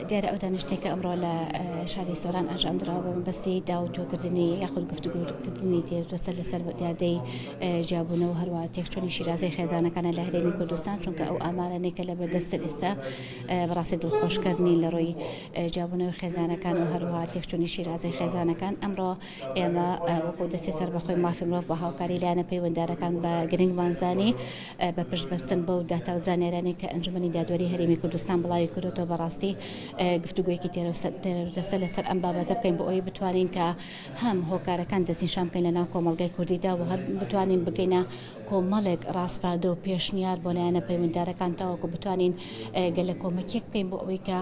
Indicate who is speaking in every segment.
Speaker 1: دیارە ئەو دانیشتنەی کە ئەمڕۆ لە شاری سۆران ئەنجام دراوە بە مەبەستی داوتۆکردنی یاخود گفتوگوکردنی تێر لەسەر لەسەر دیاردەی جیابوونەوە هەروە تێکچوونی شیرازەی خێزانەکانە لە هەرێمی کوردستان چونکە ئەو ئامارانێکە لە بەردەستە ئێستا بەڕاستی دڵخۆشکردنی لە ڕووی جیابوونەوەی خێزانەکان و هەروەها تێکچوونی شیرازەی خێزانەکان، ئەمڕۆ ئێمە وەکو دەستی سەربەخۆی مافی مرۆڤ بە هاوکاری لایەنە پەیوەندارەکان بە گرنگمان زانی بە پشت بەستن بەو داتا و زانیاریانەی کە ئەنجومەنی دادوەری هەرێمی کوردستان بڵاوی کردۆتەوە بەڕاستی گفتوگۆیەکی تێروتەسەل لەسەر ئەم بابەتە بکەین بۆ ئەوەی بتوانین کە هەم هۆکارەکان دەستنیشان بکەین لە ناو کۆمەڵگای کوردیدا و هەر بتوانین بگەینە کۆمەڵێک ڕاسپاردە و پێشنیار بۆ لایەنە پەیوەندیدارەکان تاوەکو بتوانین گەلە کۆمەکیەک بکەین بۆ ئەوەی کە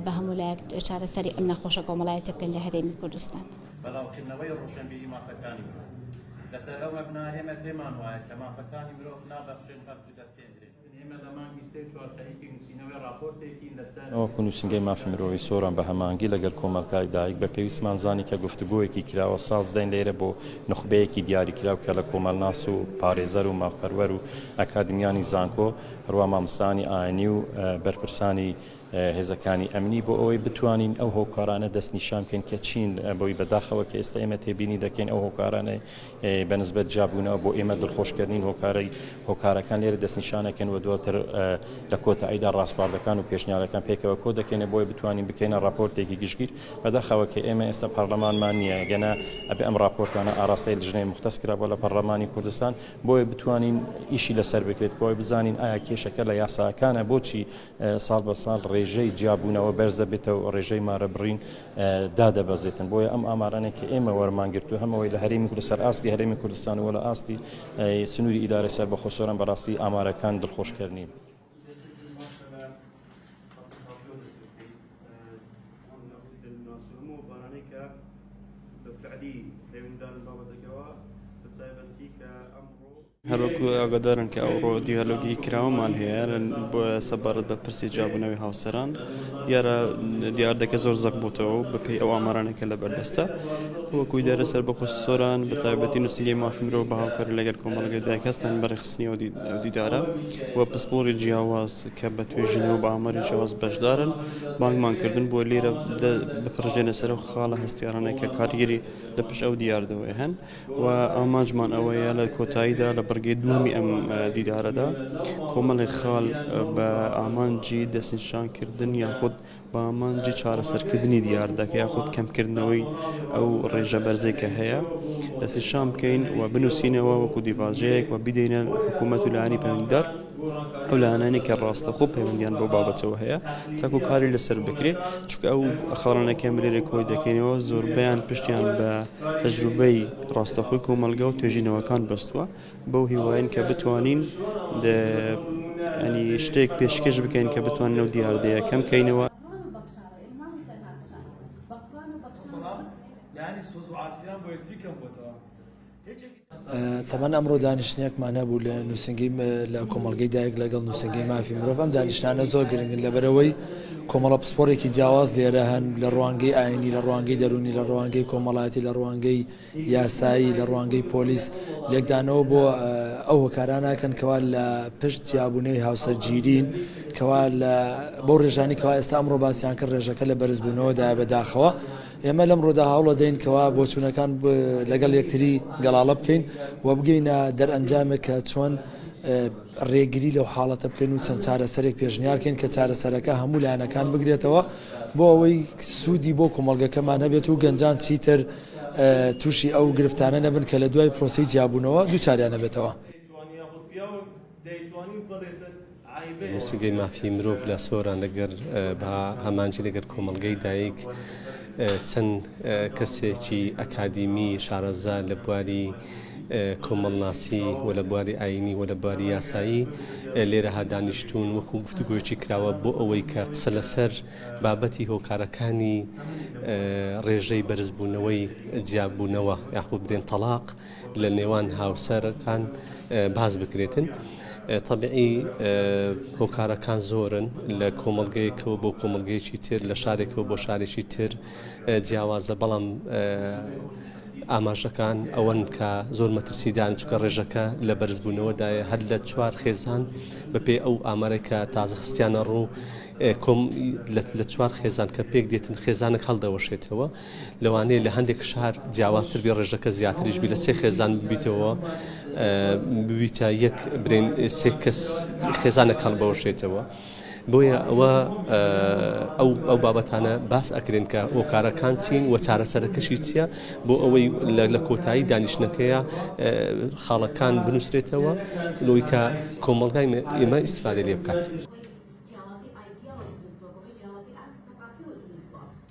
Speaker 1: بە هەموو لایەک چارەسەری ئەم نەخۆشە کۆمەڵایەتیە بکەین لە هەرێمی کوردستان. بەڵاوکردنەوەی
Speaker 2: ڕۆشنبیری مافەکانی مرۆڤ، لەسەر ئەو مەبنایە ئێمە پێمان وایە کە مافەکانی مرۆڤ نابەخشرێن بەڵکو دەستێندرێن. من وەکو نوسینگەی مافی
Speaker 3: مرۆڤی سۆران بە هەماهەنگی لەگەل کۆمەلگای دایک بە پێویستمان زانی کە گفتوگۆیەکی کراوە ساز دەین لێرە بۆ نوخبەیەکی دیاری کراو کە لە کۆمەلناس و پارێزەر و مافپەروەر و ئەکادمیانی زانکۆ هەروا ماموستایانی ئاینی و بەرپرسانی هێزەکانی ئەمنی بۆ ئەوەی بتوانین ئەو هۆکارانە دەستنیشان بکەین کە چین بۆی بەداخەوە کە ئێستا ئێمە تێبینی دەکەین ئەو هۆکارانە بە نسبەت جابوونەوە بۆ ئێمە دڵخۆشکردین هۆکارەی هۆکارەکان لێرە دەستنیشانەکەن و دواتر لە کۆتاییدا ڕاستپاردەکان و پێشنیارەکان پێکەوە کۆ دەکەینە بۆی بتوانین بکەینە ڕاپۆرتێکی گشتگیر بەداخەوە کە ئێمە ئێستا پەرلەمانمان نییە گەنا ئەبێ ئەم ڕاپۆرتانە ئاراستەی لژنەی مختەس کرا بۆ لە پەرلەمانی کوردستان بۆیە بتوانین ئیشی لەسەر بکرێت کۆی بزانین ئایا کێشەکە لە یاساکانە بۆچی ساڵ بە ساڵ ڕێژەی جیابوونەوە بەرزەبێتەوە و ڕێژەی مارە بڕین دادەبەزێتن بۆیە ئەم ئامارانێک کە ئێمە وەرمانگرتو هەمەوەی لە هەرێمی کورد سەر ئاستی هەرێمی کوردستان و لە ئاستی سنووری ئیدارە سەر بەخۆ سۆران بەڕاستی ئامارەکان دڵخۆشکردنین.
Speaker 4: هەروەکو ئاگادارن کە ئەوڕۆ دیالۆگی کراوەمان هەیە بۆ سەبارەت بە پرسی جابوونەوەی هاوسەران دیارە دیاردەکە زۆر زەق بووتەوە و بەپی ئەو ئامارانێکە لە بەردەستە وەکوی دارە سەر بەخۆ سۆران بە تایبەتی نووسنگی مافی مرۆڤ بە هاوکار لەگەل کۆمەڵگەی دایک هەستان بەڕێخستنی ئەو دیدارە و پسپۆری جیاواز کە بە توێژینەوە بە ئاماری جیاواز بەشدارن بانگمان کردن بۆ لێرە بپڕژێنە سەرەوە خاڵە هەستیارانە کە کارگیری لە پشت ئەو دیاردەوەی هەن و ئامانجمان ئەوەیە لە کۆتاییدا لە بڕگەی دووەمی ئەم دیدارەدا کۆمەڵێک خاڵ بە ئامانجی دەستنیشانکردن یاخود بە ئامانجی چارەسەرکردنی دیاردەکە یاخود کەمکردنەوەی ئەو ڕێژە بەرزەی کە هەیە دەستنیشان بکەین و بنووسینەوە وەکو دیباجەیەک و بیدەینە حکوومەت و لایەنی پەیوەندیدار ئەو لایەنانەی کە ڕاستەخۆ پەیوەندیان بەو بابەتەوە هەیە تاکو کاری لەسەر بکرێت چکە ئەو خاڵانە کە مرێرە کۆی دەکەینەوە زۆربیان پشتیان بە تەجروبەی ڕاستەخۆی کۆمەلگا و توێژینەوەکان بەستووە بەو هیواین کە بتوانین ئەنی شتێک پێشکەش بکەین کە بتوان نەو دیاردەیە کەم کەینەوە
Speaker 5: تەمان ئەمڕۆ دانیشتنێکمان هەبوو لە نووسنگی لە کۆمەلگەی دایک لەگەڵ نووسنگی مافی مرۆڤ ئەم دانیشتانە زۆر گرنگن لەبەرەوەی کۆمەڵە پسپۆرێکی جیاواز لێرە هەن لە ڕوانگەی ئاینی لە ڕوانگەی دەرونی لە ڕوانگەی کۆمەڵایەتی لە ڕوانگەی یاسایی لە ڕوانگەی پۆلیس لێکدانەوە بۆ ئەو هۆکارانەکەن کەوا لە پشت جیابوونەوەی هاوسەرگیرین کەوا لە بۆ ڕێژانی کەوا ئێستا ئەمڕۆ باسییان کرد ڕێژەکە لە بەرزبوونەوەدا بەداخەوە ئێمە لەمڕۆدا هەوڵەدەین کەوا بۆچوونەکان لەگەڵ یەکتری گەڵاڵە بکەین و بگەینە دەرئەنجامێک کە چۆن ڕێگری لەو حاڵەتە بکەین و چەند چارەسەرێک پێشنیارکەین کە چارەسەرەکە هەموو لایەنەکان بگرێتەوە بۆ ئەوەی سوودی بۆ کۆمەلگەکەمان هەبێت و گەنجان چیتر تووشی ئەو گرفتانە نەبن کە لە دوای پرۆسی جیابوونەوە دووچاریان نەبێتەوە.
Speaker 6: نوسینگەی مافی مرۆڤ لە سۆران لەگەر بە هەمانجی لەگەر کۆمەڵگەی دایک چەند کەسێکی ئەکادیمی شارەزا لە بواری کۆمەڵناسی و لە بواری ئاینی و لە بواری یاسایی لێرە هادانیشتون وەکو گفتوگوۆچی کراوە بۆ ئەوەی کە قسە لەسەر بابەتی هۆکارەکانی ڕێژەی بەرزبوونەوەی جیاببوونەوە یاخود برێن تەلاق لە نێوان هاوسەرەکان باس بکرێتن طبعی هۆکارەکان زۆرن لە کۆمەلگەیەکەوە بۆ کۆمەلگەیەکی تر لە شارێکەوە بۆ شارێکی تر جیاوازە بەڵام ئاماژەکان ئەوەن کە زۆر مەترسیدان چکە ڕێژەکە لە بەرزبوونەوەدایە هەر لە چوار خێزان بەپێ ئەو ئامارێکە تازە خستیانە ڕوو کۆم لە چوار خێزان کە پێک دێتن خێزانە هەڵدەوەشێتەوە لەوانەیە لە هەندێک شار جیاوازتر بێ ڕێژەکە زیاتریش بی لە سێ خێزان ببیتەوە ببیتە یەک برێن سێ کەس خێزانە کەڵ بەوەشێتەوە. بۆیە ئەوە ئەو ئەو بابەتانە باس ئەکرێن کە هۆکارەکان چین و چارەسەرەکەشی چییە بۆ ئەوەی لە کۆتایی دانیشتەکەیە خاڵەکان بنووسرێتەوە لۆی کە کۆمەلگای ئێمە ئیسفادە لێ بکات.